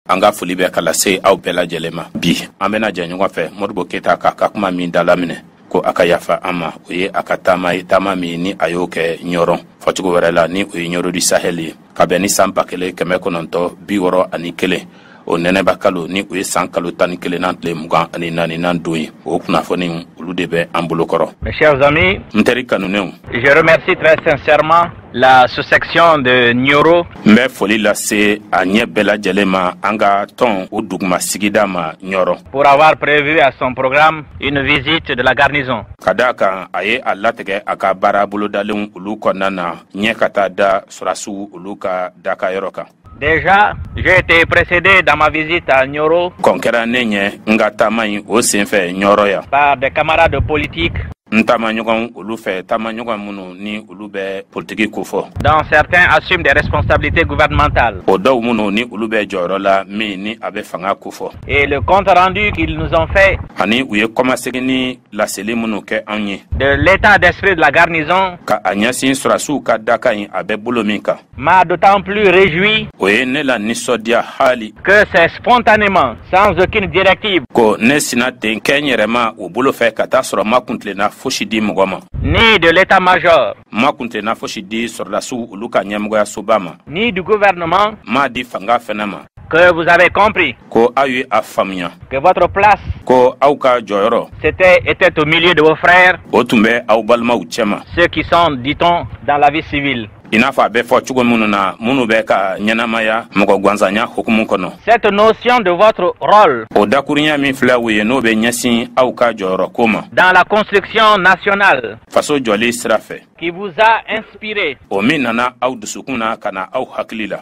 an ka foli bɛ ka lase aw bɛɛ lajɛlen ma bi an bɛna jɛ ɲɔgɔn fɛ modibo keyita k'a ka kuma min dalaminɛ ko a ka yafa an ma o ye a ka taama ye taama min ni a y'o kɛ ɲɔrɔn fɔcogo wɛrɛ la ni o ye ɲɔrɔ di sahɛl ye ka bɛn ni san ba kelen kɛmɛ kɔnɔntɔn bi wɔɔrɔ ani kelen o nɛnɛba kalo ni o ye san kalo tan ni kelennan tile mugan ani naaninan don ye o kunnafoni olu de bɛ an bolo kɔrɔ mes chers amis n teri kanunenw la sous-section de Nioro. N bɛ foli lase a ɲɛ bɛɛ lajɛlen ma an ka tɔn o duguma sigida ma Ɲɔrɔ. Pour avoir prévu à son programme une visite de la garnison. Ka d'a kan a ye a latigɛ a ka baara bolodalenw olu kɔnɔna na ɲɛ ka taa da sɔrasiw olu ka dakayɔrɔ kan. Déjà, j'ai été précédé dans ma visite à Nioro. Kɔn kɛra ne ɲɛ n ka taama in o senfɛ Ɲɔrɔ yan. Par des camarades politiques. N taamaɲɔgɔn olu fɛ taamaɲɔgɔn minnu ni olu bɛ politiki kofɔ. Dont certains assument des responsabilités gouvernementales. O dɔw minnu ni olu bɛ jɔyɔrɔ la min ni a bɛ fanga kofɔ. Et le compte rendu qu'ils nous ont fait. Ani u ye kɔmasegin ni laseli minnu kɛ anw ye. De l'état d'esprit de la garnison. Ka a ɲɛsin sɔrasiw ka daka in a bɛ bolo min kan. m'a d'autant plus réjoui o ye ne lanisɔndiya haali que c'est spontanément sans aucune directive ko ne sina ten kɛ n yɛrɛma o bolo fɛ ka t'a sɔrɔ ma kuntilenna fosi di mɔgɔ ma ni de l'état-major ma kuntilenna fosi di sɔrɔdasiw olu ka ɲɛmɔgɔyasoba ma ni du gouvernement m'a di fanga fɛnɛ ma que vous avez compris ko aw ye a faamuya que votre place ko aw ka jɔyɔrɔ c'était était au milieu de vos frères o tun bɛ aw balimaw cɛma ceux qui sont dit-on dans la vie civile i n'a fɔ a bɛ fɔ cogo minnu na minnu bɛ ka ɲɛnamaya mɔgɔ gwansanya hukumu kɔnɔ cette notion de votre rôle o dakurunya min filɛ o ye n'o bɛ ɲɛsin aw ka jɔyɔrɔ ko ma dans la construction nationale faso jɔli sira fɛ qui vous a inspiré o min nana aw dusukun na ka na aw hakili la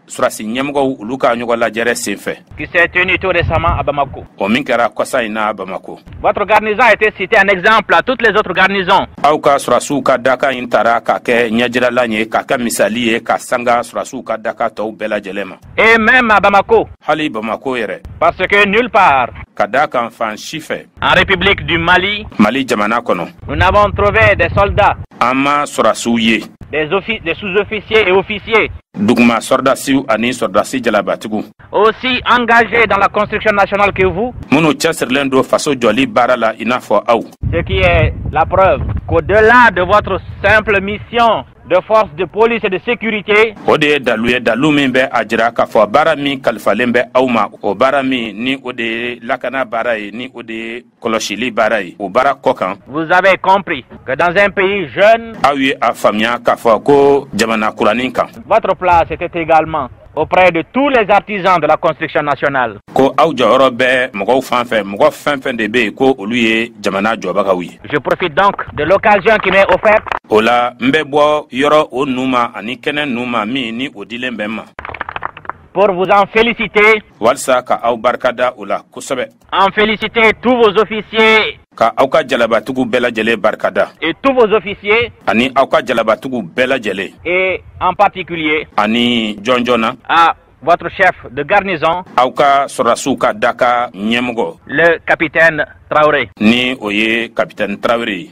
sɔrasi ɲɛmɔgɔw olu ka ɲɔgɔn lajɛrɛ senfɛ qui s'est tenue tout récemment à Bamako o min kɛra kɔsa in na Bamako votre garnison a été citée en exemple à toutes les autres garnisons aw ka sɔrasiw ka daka in tara k'a kɛ ɲɛjiralan ye k'a kɛ misali ye ka sanga sɔrasiw ka daka tɔw bɛɛ lajɛlen ma et même à Bamako hali Bamako yɛrɛ parce que nulle part ka d'a kan fan si fɛ En République du Mali. Mali jamana kɔnɔ. Nous n'avons trouvé des soldats. An ma sɔrasiw ye. Des, des sous-officiers et officiers. Duguma sɔrɔdasiw ani sɔrɔdasi jalabatigiw. Aussi engagés dans la construction nationale que vous. Minnu cɛsirilen don faso jɔli baara la i n'a fɔ aw. Ce qui est la preuve qu'au-delà de votre simple mission de force de police et de sécurité. O de ye dalu ye dalu min bɛ a jira k'a fɔ baara min kalifalen bɛ aw ma o baara min ni o de ye lakana baara ye ni o de ye kɔlɔsili baara ye o baara kɔ kan. vous avez compris que dans un pays jeune. aw ye a faamuya k'a fɔ ko jamana kuranin kan. votre place était également. auprès de tous les artisans de la construction nationale. Ko aw jɔyɔrɔ bɛ mɔgɔw fan fɛ, mɔgɔ fɛn fɛn de bɛ yen ko olu ye jamana jɔbagaw ye. Je profite donc de l'occasion qui m'est offerte. O la, n bɛ bɔ yɔrɔ o nu ma ani kɛnɛ nu ma min ni o dilen bɛ n ma. Pour vous en féliciter. Walisa ka aw barikada o la kosɛbɛ. En féliciter tous vos officiers ka aw ka jalabatigiw bɛɛ lajɛlen barikada et tous vos officiers ani aw ka jalabatigiw bɛɛ lajɛlen et en particulier ani jɔnjɔn na à votre chef de garnison aw ka sɔrɔdasiw ka daga ɲɛmɔgɔ le capitaine Traoré ni o ye capitaine Traoré ye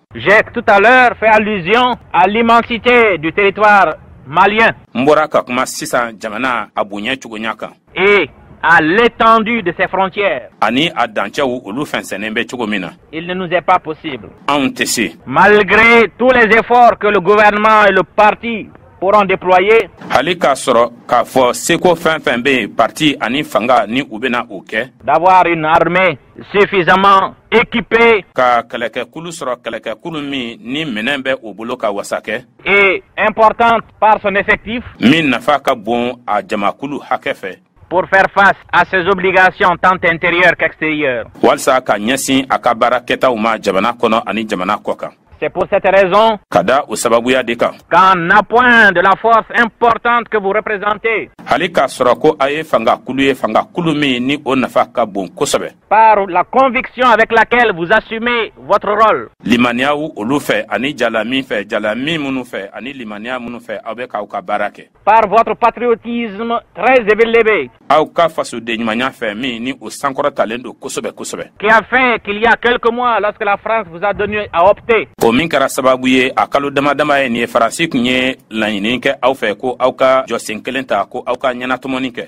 J'ai tout à l'heure fait allusion à l'immensité du territoire malien. N bɔra ka kuma sisan jamana a bonya cogoya kan. Et à l'étendue de ses frontières. Ani a dancɛw olu fɛnsɛnnen bɛ cogo min na. Il ne nous est pas possible. Anw tɛ se. Malgré tous les efforts que le gouvernement et le parti pourront déployer. Hali k'a sɔrɔ k'a fɔ seko fɛn fɛn bɛ yen parti ani fanga ni u bɛna o kɛ. D'avoir une armée suffisamment équipé ka kɛlɛkɛkulu sɔrɔ kɛlɛkɛkulu min ni minɛn bɛ o bolo ka wasa kɛ et importante par son effectif min nafa ka bon a jamakulu hakɛ fɛ pour faire face à ses obligations tant intérieures qu'extérieures walisa ka ɲɛsin a ka baara kɛtaw ma jamana kɔnɔ ani jamana kɔ kan C'est pour cette raison ka da o sababuya de kan qu'en appoint de la force importante que vous représentez hali k'a sɔrɔ ko aw ye fanga kulu ye fanga kulu min ni o nafa ka bon kosɛbɛ par la conviction avec laquelle vous assumez votre rôle limaniyaw olu fɛ ani jala min fɛ jala min minnu fɛ ani limaniya minnu fɛ aw bɛ k'aw ka baara kɛ par votre patriotisme très élevé. Aw ka fasodenɲumanya fɛ min ni o sankɔrɔtalen don kosɛbɛ kosɛbɛ. Qui a fait qu'il y a quelques mois lorsque la France vous a donné à opter. O min kɛra sababu ye a kalo dama dama ye nin ye Faransi tun ye laɲini kɛ aw fɛ ko aw ka jɔsen kelen ta ko aw ka ɲɛnatɔmɔni kɛ.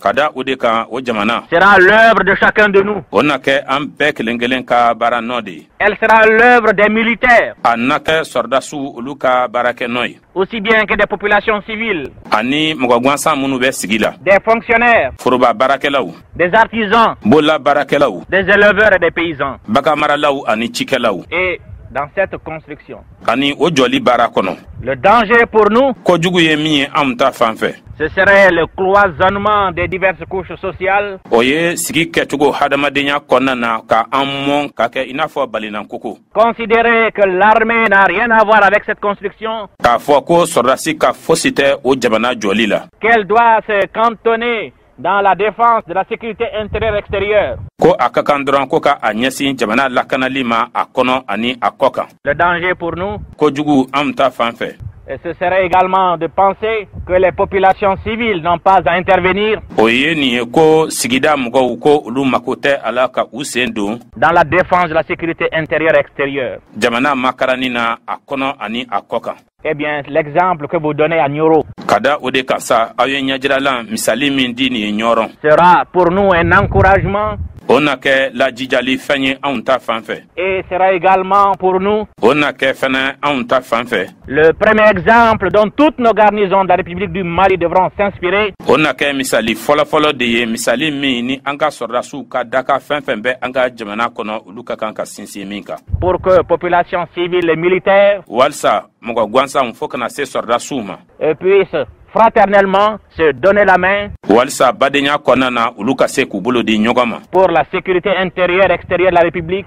ka da o de kan o jamana sera l'œuvre de chacun de nous o na kɛ an bɛɛ kelen kelen ka baara nɔ de ye elle sera l'œuvre des militaires a na kɛ sɔrɔdasiw olu ka baarakɛ nɔ ye aussi bien que des populations civiles ani mɔgɔ gansan minnu bɛ sigi la des fonctionnaires foroba baarakɛlaw des artisans bolola baarakɛlaw des éleveurs et des paysans baganmaralaw ani cikɛlaw et dans cette construction ani o jɔli baara kɔnɔ le danger pour nous kojugu ye min ye anw ta fan fɛ ce serait le cloisonnement des diverses couches sociales o ye sigi kɛcogo hadamadenya kɔnɔna na ka an mɔn ka kɛ i n'a fɔ balinan koko considérer que l'armée n'a rien à voir avec cette construction k'a fɔ ko sɔrɔdasi ka fosi tɛ o jamana jɔli la qu'elle doit se cantonner dans la défense de la sécurité intérieure et extérieure. Ko a ka kan dɔrɔn ko ka a ɲɛsin jamana lakanali ma a kɔnɔ ani a kɔ kan. Le danger pour nous. Kojugu anw ta fan fɛ. Et ce serait également de penser que les populations civiles n'ont pas à intervenir. O ye nin ye ko sigida mɔgɔw ko olu mako tɛ a la ka u sen don. Dans la défense de la sécurité intérieure et extérieure. Jamana makaranni na a kɔnɔ ani a kɔ kan. Eh bien, l'exemple que vous donnez à Nioro. Ka da o de kan sa, aw ye ɲɛjiralan misali min di nin ye Ɲɔrɔn. Sera pour nous un encouragement. O na kɛ lajijali fɛn ye anw ta fan fɛ. Et sera également pour nous. O na kɛ fɛnɛ anw ta fan fɛ. Le premier exemple dont toutes nos garnisons de la République du Mali devront s'inspirer. O na kɛ misali fɔlɔfɔlɔ de ye misali min ni an ka sɔrɔdasiw ka daka fɛn fɛn bɛ an ka jamana kɔnɔ olu ka kan ka sinsin. si min kan pour que population civile et militaire walisa mɔgɔ gansanw fo ka na se sɔrɔdasiw ma puissent fraternellement se donner la main walisa badenya kɔnɔna na olu ka se k'u bolo di ɲɔgɔn ma pour la sécurité intérieure extérieure de la république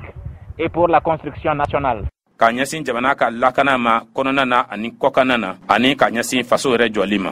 et pour la construction nationale ka ɲɛsin jamana ka lakana ma kɔnɔna na ani kɔkanna na ani ka ɲɛsin faso yɛrɛ jɔli ma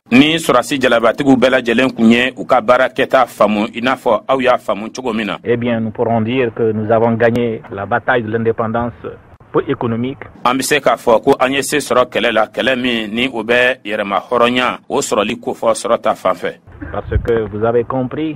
ni sɔrɔdasi jalabatigiw bɛɛ lajɛlen kun ye u ka baara kɛta faamu i n'a fɔ aw y'a faamu cogo min na eh bien nous pourrons dire que nous avons gagné la bataille de l'indépendance pour économique an bɛ se k'a fɔ ko an ye se sɔrɔ kɛlɛ la kɛlɛ min ni o bɛ yɛrɛmahɔrɔnya o sɔrɔli kofɔ sɔrɔ ta fan fɛ parce que vous avez compris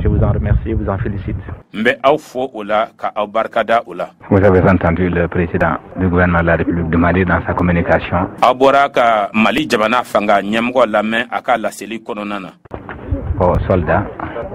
Je vous en remercie, vous en félicite. N bɛ aw fo o la ka aw barika da o la. Vous avez entendu le président du gouvernement de la République du Mali dans sa communication. Aw bɔra ka Mali jamana fanga ɲɛmɔgɔ lamɛn a ka laseli kɔnɔna na. Aux soldats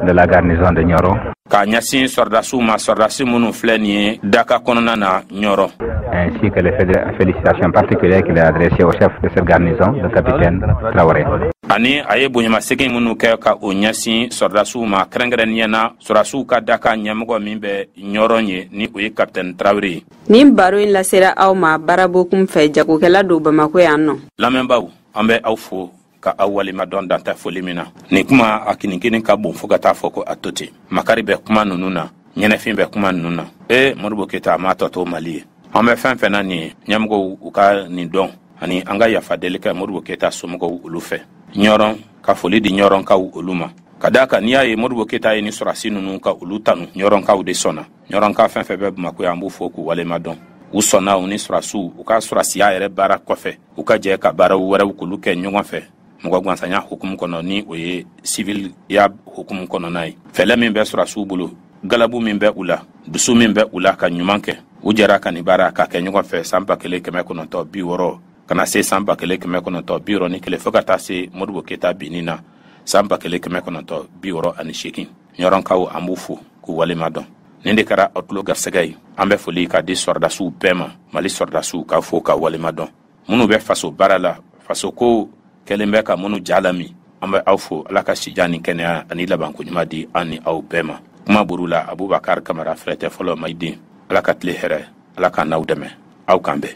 de la garnison de Nioro. K'a ɲɛsin sɔrɔdasiw ma sɔrɔdasi minnu filɛ nin ye daka kɔnɔna na Nioro. Ainsi que les félicitations particulières qu'il a adressées au chef de cette garnison, le capitaine Traoré. ani a ye bonyamasegin minnu kɛ ka o ɲɛsin sɔrɔdasiw ma kɛrɛnkɛrɛnniyɛ na sɔrɔdasiw ka daka ɲɛmɔgɔ min bɛ ɲɔrɔn ye ni o ye kapitɛni tarawele ye nin baro in lasera aw ma Bara Bokun fɛ jagokɛla don bamako yan nɔ lamɛnbaaw an bɛ aw fo ka aw waleɲumandɔn dan tɛ foli min na nin kuma a kinikini ka bon fɔɔ ka t'a fɔ ko a to ten makari bɛ kuma nunu na ɲɛnɛfin bɛ kuma nunu na ee Modibo Keyita a m'a tɔ to mali ye an bɛ fɛn fɛn na nin ye ɲɛmɔgɔw u ka nin dɔn ani an ka yafa deli kɛ Modibo Keyita somɔgɔw olu fɛ ɲɔrɔn ka foli di ɲɔrɔnkaw olu ma ka d'a kan n'i y'a ye Modibo Keyita ye nin sɔrasi nunu ka olu tanu ɲɔrɔnkaw de sɔnna ɲɔrɔnka fɛn fɛn bɛ bamako yan an b'u fo k'u walema dɔn u sɔnna u ni surasiw u ka surasiya yɛrɛ baara kɔfɛ u ka jɛ ka baaraw wɛrɛw k'olu kɛ ɲɔgɔn fɛ mɔgɔ gansanya hukumu kɔnɔ ni o ye siviliya hukumu kɔnɔna ye fɛlɛ min bɛ surasiw bolo galabu min bɛ u la dusu min bɛ u la ka ɲuman kɛ u jɛra ka nin baara k'a kɛ ɲɔgɔn fɛ san ba kelen kɛmɛ kɔnɔntɔ bi wɔɔrɔ ka na se san ba kelen kɛmɛ kɔnɔntɔ bi wɔɔrɔ ni kelen fɔɔ ka taa se modibo keyita binni na san ba kelen kɛmɛ kɔnɔntɔ bi wɔɔrɔ ani seegin ɲɔrɔnkaw an b'u fo k'u walema dɔn nin de kɛra aw tulo garisɛgɛ ye an bɛ foli k'a di sɔrɔdasiw bɛɛ ma mali sɔrɔdasiw k'a fo ka walema dɔn minnu bɛ faso baara la faso ko kɛlen bɛ ka minnu ja lami an bɛ aw fo ala ka sijan ni kɛnɛya ani labanko ɲuman di an ni aw bɛɛ ma kuma buru la abubakar kamara fɛrɛtɛ fɔlɔ mayiden ala ka tile hɛrɛ ala k'an n'aw dɛmɛ aw k'an bɛn